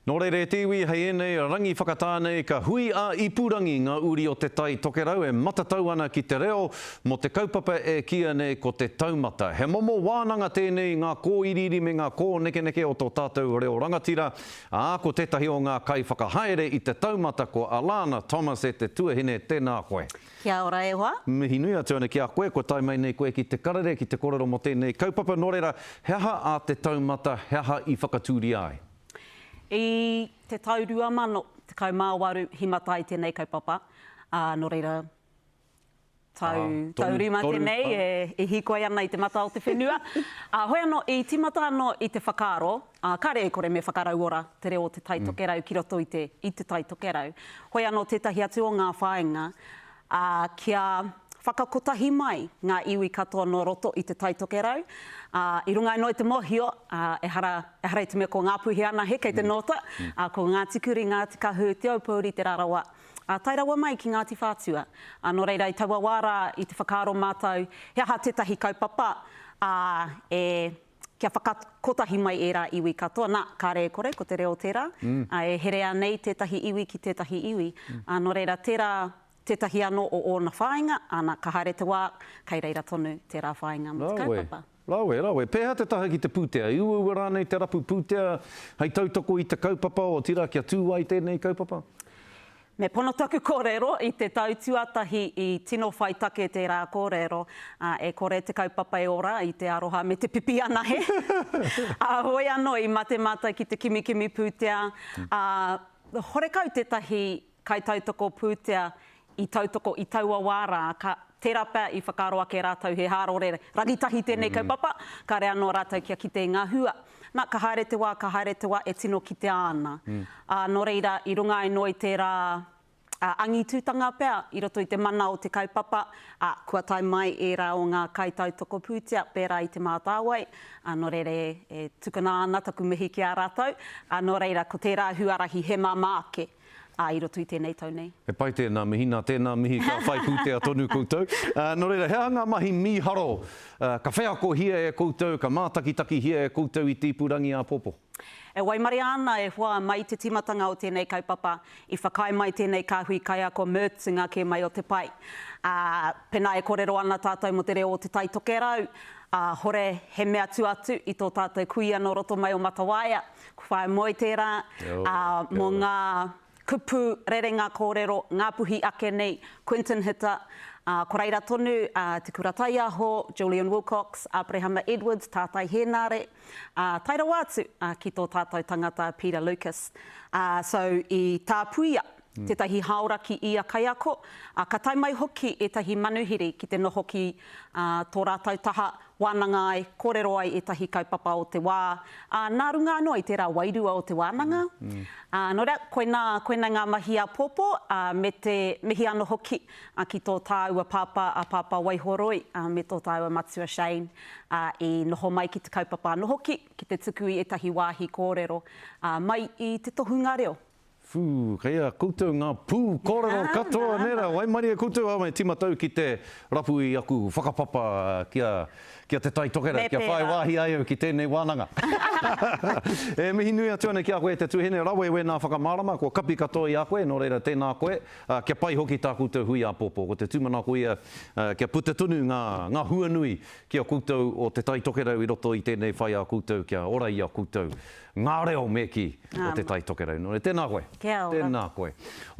Nō reira e te iwi hei ēnei rangi whakatā nei ka hui ā-ipurangi ngā uri o Te Tai Tokerau e matatau ana ki te reo mō te kaupapa e kīia nei ko te taumata. He momo wānanga tēnei i ngā kōiriiri me ngā kōnekeneke o tō tātou reo rangatira, ā, ko tētahi o ngā kaiwhakahaere i te taumata ko Alana Thomas e te tuahine tēnā koe. Kia ora e hoa. Mihi nui atu ana ki a koe kua tae mai nei koe ki te karere ki te korero mō tēnei kaupapa nō reira he aha a te taumata he aha i whakatūria ai? I te tau 2018 i mata ai tēnei kaupapa, ā, nō reira, tau, tau rima tēnei e hiko ai ana i te mata o te whenua. Ā, hoi anō, i tīmata anō i te whakaaro, ā, kāre e kore me whakarauora te reo o Te Tai Tokerau ki roto i te, i Te Tai Tokerau. Hoi anō tētahi atu o ngā whāinga, ā, kia whakakotahi mai ngā iwi katoa nō roto i Te Tai Tokerau, ā, i runga anō i te mōhio, ā, ehara, ehara i te mea ko Ngāpuhi anahe kei te nōta, ā, ko Ngāti Kuri, Ngāti Kahu, Te Aupōuri, Te Rarawa, ā, tae rawa mai ki Ngāti Whātua. Ā, nō reira, i taua wā rā, i te whakaaro mātou, he aha tētahi kaupapa, ā, e. kia whakakotahi mai ērā iwi katoa, nā, karekore ko te reo tērā, ā, e herea nei tētahi iwi ki tētahi iwi. Ā, nō reira, tērā tētahi anō o ōna whāinga, ana, ka haere te wā, kei reira tonu tērā whāinga mō te kaupapa. Rawe, rawe, rawe. Pēhea te taha ki te pūtea? I uaua rānei te rapu pūtea hei tautoko i te kaupapa, otirā kia tū ai tēnei kaupapa? Me pono taku kōrero i te tau tuatahi i tino whai take tērā kōrero, ā, e kore te kaupapa e ora i te aroha me te pipi anahe. Ā, heoi anō i mate mātou ki te kimikimi pūtea, ā, horekau tētahi kaitautoko pūtea i tautoko i taua wā rā, ka, tērā pea i whakaaro ake rātou he hārore rangitahi tēnei kaupapa, kāre anō rātou kia kite i ngā hua. Na, ka haere te wā, ka haere te wā, e tino kitea ana. Ā, nō reira, i runga ai noa i tērā angitūtanga pea i roto i te mana o te kaupapa, ā, kua tae mai ērā o ngā kaitautoko pūtea pērā i Te Mātāwai, ā, nō reira e tukuna ana taku mihi ki a rātou. Ā, nō reira, ko tērā huarahi he māmā ake. ā, i roto i tēnei tau nei. He pai tēnā mihi, nā tēnā mihi ka whai pūtea tonu koutou. Nō reira, he aha ngā mahi mīharo ka wheakohia e koutou, ka mātakitakihia e koutou i te ipu rangi āpōpō? E waimaria ana e hoa mai te tīmatanga o tēnei kaupapa, i whakaae mai tēnei kāhui kaiako Mertz i ngā kē mai o te pae. Ā, pēnā e kōrero ana tātou mō te reo o Te Tai Tokerau, ā, hore he mea tua atu i tō tātou kuia nō roto mai o Matawaia, Ko whae moe tērā mō ngā kupu rerenga kōrero ngāpuhi ake nei, Quinton Hita, ko reira tonu a Te Kura Taiaho, Julian Wilcox, Aperehama Edwards, Tātai Hēnare, tae rawa atu ki tō tātou tangata Peter Lucas. So i tāpuia tētahi hāora ki ia kaiako, ā, ka tae mai hoki ētahi manuhiri ki te noho ki tō rātou taha, wānanga ai, kōrero ai ētahi kaupapa o te wā, ā, nā runga anō i tērā wairua o te wānanga. Ā, nō reira, koinā, koinei ngā mahi āpōpō, ā, me te mihi anō hoki ki tō tāua pāpā, a Pāpā Waihoroi, ā, me tō tāua matua Shane, ā, i noho mai ki te kaupapa anō hoki, ki te tuku i ētahi wāhi kōrero, ā, mai i te tohunga reo. Whū, kei a koutou ngā pū kōrero katoa nera, waimarie koutou āme timatau ki te rapu i aku whakapapa kia kia te Tai Tokerau, kia whai wāhi ai au ki tēnei wānanga. E mihi nui atu ana ki a koe te tuhene rawe wēnā whakamārama, kua kapi katoa i a koe, nō reira tēnā koe, kia pai hoki tā koutou hui āpōpō. Ko te tūmanako ia kia puta tonu ngā ngā huanui ki a koutou o te Tai Tokerau i roto i tēnei whai a koutou kia ora i a koutou. Ngā reo me kī o Te Tai Tokerau. Nō reira, tēnā koe. Kia ora. Tēnā koe.